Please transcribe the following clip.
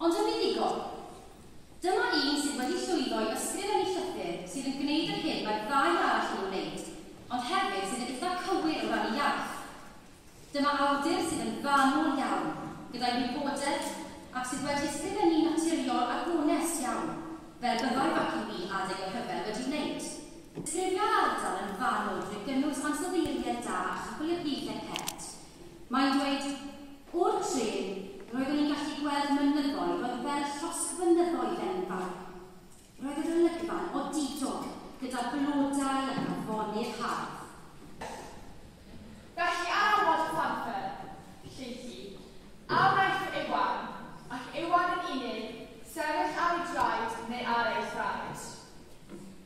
Ond yn fuddugol, dyma un sydd wedi llwyddo i ysgrifennu llythyr sydd yn gwneud yr hyn mae'r ddau arall yn ei wneud, ond hefyd sydd yn eitha' cywir o ran ei iaith. Dyma awdur sydd yn fanwl iawn gyda'i wybodaeth ac sydd wedi ysgrifennu'n naturiol a gonest iawn, fel byddai Baci Wi adeg y rhyfel wedi wneud. Ystyria'r ardal yn fanwl drwy gynnwys ansoddeiriaid da a chyfylybuithiau pert. Mae'n dweud, O'r trên, roeddwn i'n gallu gweld mynyddoedd oedd fel llosg fynyddoedd enfawr. Roedd yr olygfa'n odidog, gyda blodau ac afonydd hardd. Felly ar ôl weld Panther, lleill i, a wnaeth fy Iwan, ac Iwan yn unig, sefyll ar ei draed neu ar ei thraed?